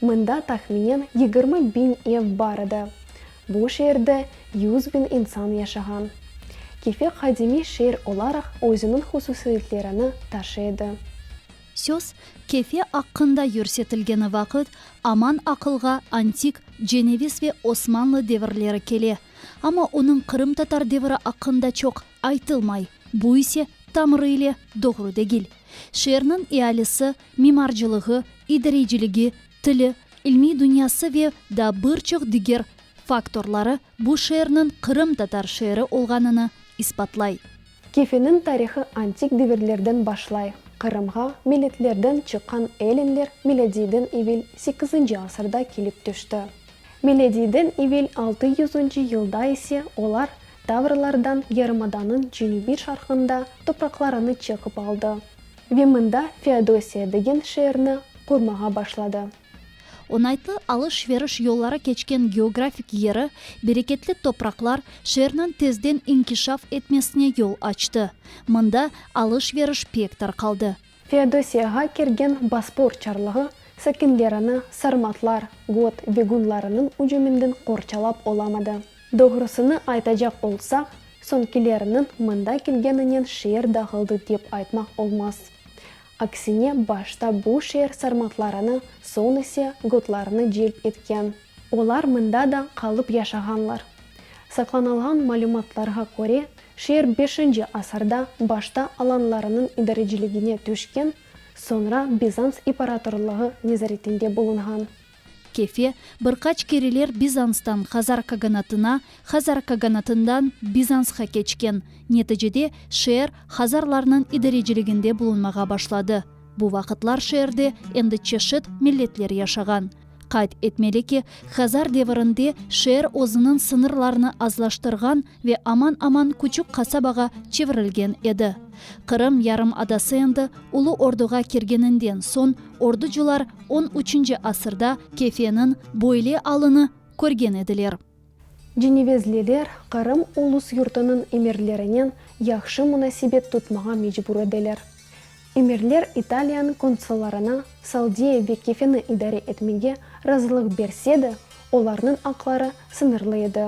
Mında tahminen yigirmi biñ ev bar edi. Bu şeerde yüz biñ insan yaşağan. Kefe qadimiy şeer olaraq özüniñ hususiyetlerini taşı edi. Söz Kefe aqqında yürsetilgeni vaqıt aman aqılğa antik Ceneviz ve Osmanlı devirleri kele. Amma onıñ qırımtatar deviri aqqında çoq aytılmay, bu ise tamırı ile doğru degil. Şeerniñ ealisi, mimarcılığı, idareyciligi, tili, ilmiy dünyası ve daa bir çoq diger faktorları bu şeerniñ qırımtatar şeeri olğanını isbatlay. Kefeniñ tarihı antik devirlerden başlay, Qırımğa milletlerden çıqqan ellinler milâdiyden evel sekizinci asırda kelip tüşti. Milâdiyden evel altı yüzünci yılda ise olar Tavrlardan yarımadanıñ cenübiy-şarqında topraqlarını çekip aldı ve mında Feodosiya degen şeerni qurmağa başladı. Oñaytlı alış-veriş yolları keçken geografik yeri, bereketli topraqlar şeerniñ tezden inkişaf etmesine yol açtı. Mında alış-veriş pek tarqaldı. Feodosiyağa kergen Bospor çarlığı sakinlerini sarmatlar, got, begunlarınıñ ücüminden qorçalap olamadı. Doğrusını aytacaq olsaq, soñkileriniñ mında kelgeninen şeer dağıldı dep aytmaq olmaz. Aksine, başta bu şeer sarmatlarını, soñ ise gotlarnı celp etken. Olar mında da qalıp yaşağanlar. Saqlanılğan malümatlarğa köre, şeer beşinci asırda başta alanlarınıñ idareciligine tüşken, soñra Bizans iparatorlığı nezaretinde bulunğan. Kefe, bir qaç kereler Bizanstan Hazar kaganatına, Hazar kaganatından Bizansqa keçken. Neticede, şeer Hazarlarnıñ idareciliginde bulunmağa başladı. Bu vaqıtlar şeerde endi çeşit milletler yaşağan. Qayd etmeli ki, Hazar devirinde şeer özüniñ sıñırlarını azlaştırğan ve aman-aman küçük qasabağa çevirilgen edi. Qırım yarımadası endi Ulu Orduğa kirgeninden soñ orducular on üçünci asırda Kefeniñ böyle alını körgen ediler. Cenevezliler Qırım ulus yurtunıñ emirlerinen yahşı munasebet tutmağa mecbur ediler. Emirler İtaliyanıñ konsullarına Saldiye ve Kefeni idare etmege razılıq berse de, olarnıñ aqları sıñırlı edi.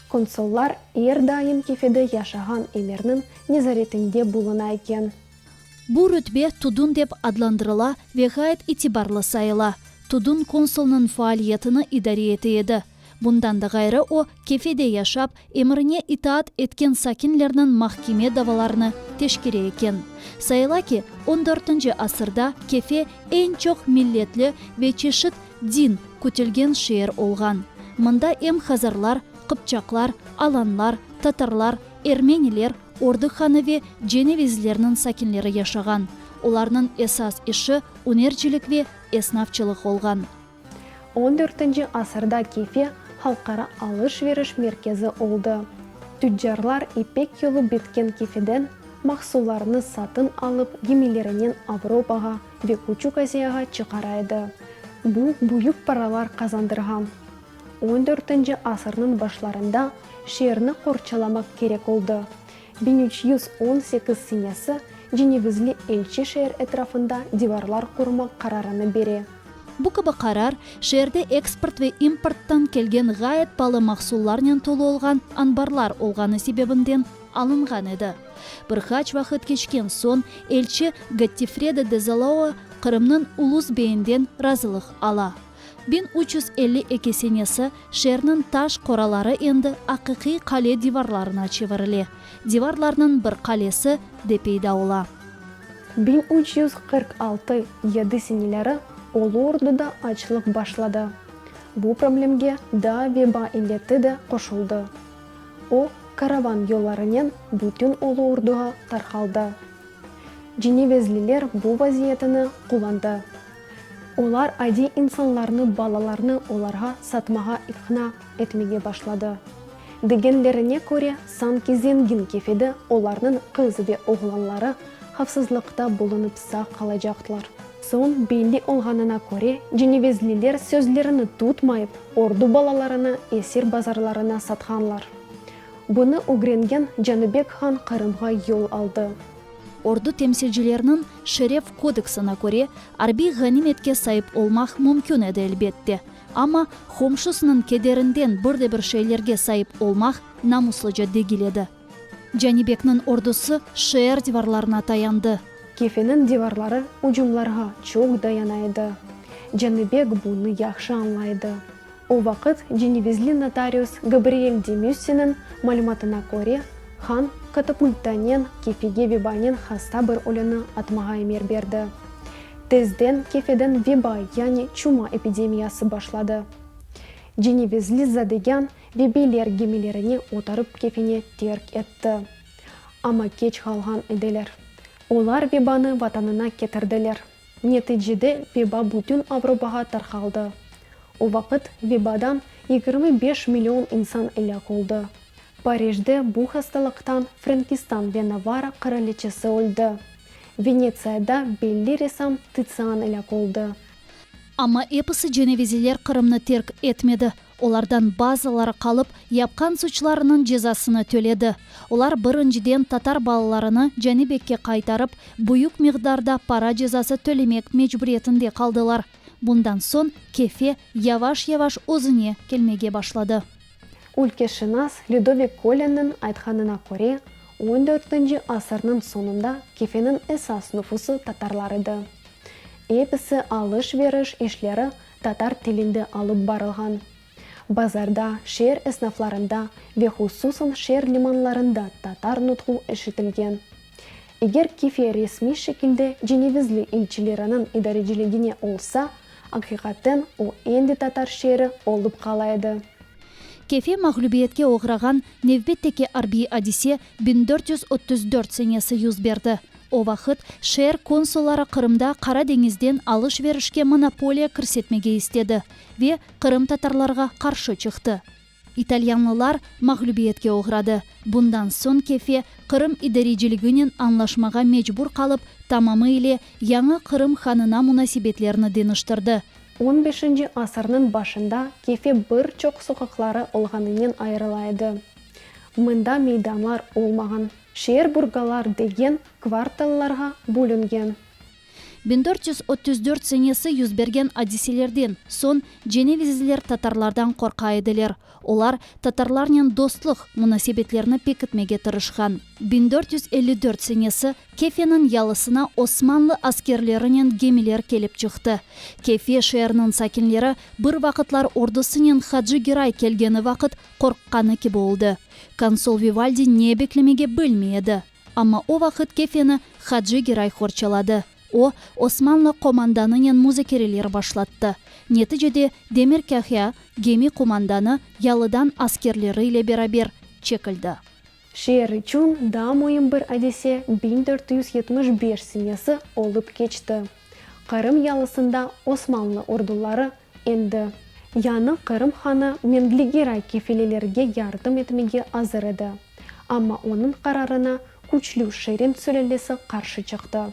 Konsullar er daim Kefede yaşağan emirniñ nezaretinde buluna eken. Bu rütbe tudun dep adlandırıla ve ğayet itibarlı sayıla. Tudun konsulnıñ faaliyetini idare ete edi. Bundan da ğayrı o, Kefede yaşap, emrine itaat etken sakinlerniñ mahkeme davalarını teşkere eken. Sayıla ki, on dörtünci asırda Kefe eñ çoq milletli ve çeşit din kütülgen şeer olğan. Mında em hazarlar, qıpçaqlar, alanlar, tatarlar, ermeniler, Ordıq hanı ve Cenevizlerniñ sakinleri yaşağan. Olarnıñ esas işi ünercilik ve esnafçılıq olğan. On dörtünci asırda Kefe halqara alış-veriş merkezi oldı. Tüccarlar İpek yolu bitken Kefeden mahsullarnı satın alıp gemilerinen Avropağa ve Küçük Aziyağa çıqara edi. Bu büyük paralar qazandırğan. On dörtünci asırnıñ başlarında şeerni qorçalamaq kerek oldı. Biñ üç yüz on sekiz senesi cenevizli elçi şeer etrafında divarlar qurmaq qararını bere. Bu kibi qarar, şeerde eksport ve importtan kelgen ğayet palı mahsullarnen tolu olğan anbarlar olğanı sebebinden alınğan edi. Bir qaç vaqıt keçken soñ, elçi Gottfredo de Zalao Qırımnıñ ulus beyinden razılıq ala. Biñ üç yüz elli eki senesi, şeerniñ taş qoraları endi aqiqiy qale divarlarına çevirile, divarlarnıñ bir qalesi de peyda ola. Biñ üç yüz qırq altı yedi seneleri Ulu Orduda açlıq başladı. Bu problemge daa veba illeti de qoşuldı. O, karavan yollarınen bütün Ulu Orduğa tarqaldı. Cenevezliler bu vaziyetini qullandı. Olar adiy insanlarnı balalarnı olarğa satmağa iqna etmege başladı. Degenlerine köre, sanki zengin kefedi olarnıñ qız ve oğlanları havfsızlıqta bulunıp sağ qalacaqlar. Soñ belli olğanına köre, cenevezliler sözlerini tutmayıp, ordu balalarını esir bazarlarına satqanlar. Bunı ögrengen Canıbek han Qırımğa yol aldı. Ordu temsilcileriniñ Şeref kodeksına köre, arbiy ğanimetke saip olmaq mümkün edi, elbette. Amma, qomşusınıñ kederinden bir de bir şeylerge saip olmaq namuslıca degil edi. Canibekniñ ordusı şeer divarlarına tayandı. Kefeniñ divarları ücümlarğa çoq dayana edi. Canibek bunı yahşı añlay edi. O vaqıt cenevizli notarius Gabriel de Müssiniñ malümatına köre, han katapulttanen kefege vebanen hasta bir ölüni atmağa emir berdi. Tezden kefeden veba, yani çuma epidemiyası başladı. Cenevizli zadegân ve beyler gemilerine oturıp kefene terk etti. Amma keç qalğan ediler. Olar vebanı vatanına ketirdiler. Neticede veba bütün Avropağa tarqaldı. O vaqıt vebadan yigirmi beş million insan elâk oldı. Parijde bu hastalıqtan Frankistan ve Navara qıraliçesi öldi. Venetsiyada belli ressam Titsian elâk oldı. Amma episi cenevizeler Qırımnı terk etmedi. Olardan bazıları qalıp, yapqan suçlarınıñ cezasını töledi. Olar, birinciden, tatar balalarını Canibekke qaytarıp, büyük miqdarda para cezası tölemek mecburiyetinde qaldılar. Bundan soñ Kefe yavaş-yavaş özüne kelmege başladı. Ülkeşınas Lüdovik Kolenniñ aytqanına köre, on dörtünci asırnıñ soñunda Kefeniñ esas nüfusı tatarlar edi. Episi alış-veriş işleri Tatar tilinde alıp barılğan bazarda, şeer esnaflarında ve hususan şeer limanlarında tatar nutqu eşitilgen. Eger kife resmiy şekilde cenevizli ilçileriniñ idareciligine olsa, aqiqaten o endi tatar şeeri olıp qala edi. Kefe mağlübiyetke oğrağan nevbetteki arbiy adise biñ dört yüz ötüz dört senesi yüz berdi. O vaqıt şeer konsulları Qırımda Qara deñizden alış-verişke monopoliya kirsetmege istedi ve qırımtatarlarğa qarşı çıqtı. İtalyanlılar mağlübiyetke oğradı. Bundan soñ Kefe Qırım idareciligi'nen añlaşmağa mecbur qalıp, tamamı ile yañı Qırım hanına munasebetlerini deñiştirdi. On beşinci asırnıñ başında Kefe bir çoq soqaqları olğanınen ayırıla edi. Mında meydanlar olmağan. Şeerburgalar degen kvartallarğa bölüngen. Biñ dört yüz ötüz dört senesi yüz bergen adiselerden soñ cenevizliler tatarlardan qorqa ediler, olar tatarlarnen dostluq munasebetlerini pekitmege tırışqan. Biñ dört yüz elli dört senesi Kefeniñ yalısına osmanlı askerlerinen gemiler kelip çıqtı. Kefe şeeriniñ sakinleri bir vaqıtlar ordusınen Hacı Giray kelgeni vaqıt Qorqqanı kibi oldı. Konsol Vivaldi ne beklemege bilmey edi. Amma o vaqıt kefeni Hacı Giray qorçaladı. O, Osmanlı qomandanınen muzakereler başlattı. Neticede Demir Kahya, gemi qomandanı, yalıdan askerleri ile beraber çekildi. Şeer içün daa müim bir adise biñ dört yüz yetmiş beş senesi olıp keçti. Qırım yalısında Osmanlı orduları endi. Yañı Qırım hanı Mengli-Giray kefelelerge yardım etmege azır edi, amma onıñ qararına küçlü Şirin sülâlesi qarşı çıqtı.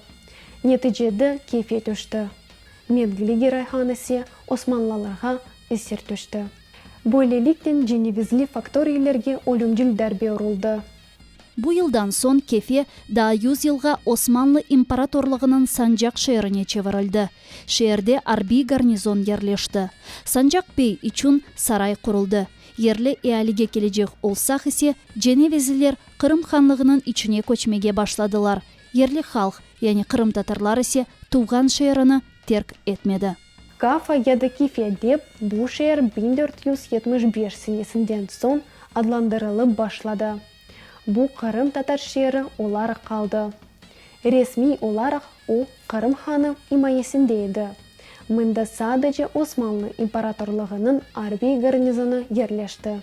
Neticede kefe tüşti. Mengli-Giray han ise osmanlılarğa esir tüşti. Böyleliknen cenevizli faktoriylerge ölümcil darbe uruldı. Bu yıldan soñ Kefe daa yüz yılğa Osmanlı imparatorlığınıñ Sancaq şeerine çevirildi. Şeerde arbiy garnizon yerleşti. Sancaq bey içün saray quruldı. Yerli ealige kelecek olsaq ise, cenevizliler Qırım hanlığınıñ içine köçmege başladılar. Yerli halq, yani qırımtatarlar ise tuvğan şeerini terk etmedi. Kafa ya da Kifya dep bu şeer biñ dört yüz yetmiş beş senesinden soñ adlandırılıp başladı. Bu Qırım tatar şeeri olaraq qaldı. Resmiy olaraq o Qırım hanı imayesinde edi. Mında sadece Osmanlı imparatorlığınıñ arbiy garnizonı yerleşti.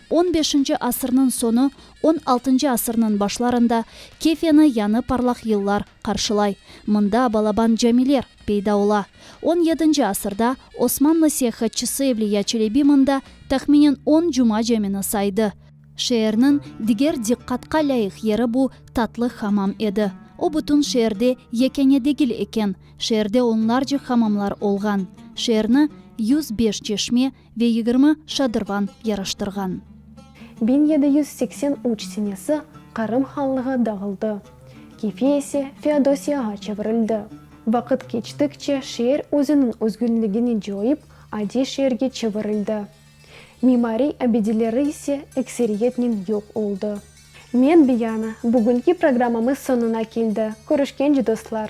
On beşinci asırnıñ soñu, on altıncı asırnıñ başlarında Kefyanı yañı parlaq yıllar, qarşılay. Mında balaban camiler peyda ola. On yedinci asırda Osmanlı seyahatçısı Evliya Çelebi mında tahminen on cuma camini saydı. Şeerniñ diger diqqatqa lâyıq yeri bu tatlı hamam edi. O bütün şeerde yekâne degil eken, şeerde onlarca hamamlar olğan. Şeerni yüz beş çeşme, Ve yigirmi şadırvan yaraştırğan. Biñ yedi yüz seksen üç senesi Qırım hanlığı dağıldı, Kefi ise Feodosiyağa çevirildi. Vaqıt keçtikçe şeer özüniñ özgünligini coyıp, adiy şeerge çevirildi. Mimariy abideleri ise ekseriyetnen yoq oldı. Men Biyana, bugünki programmamız soñuna keldi, körüşkence dostlar!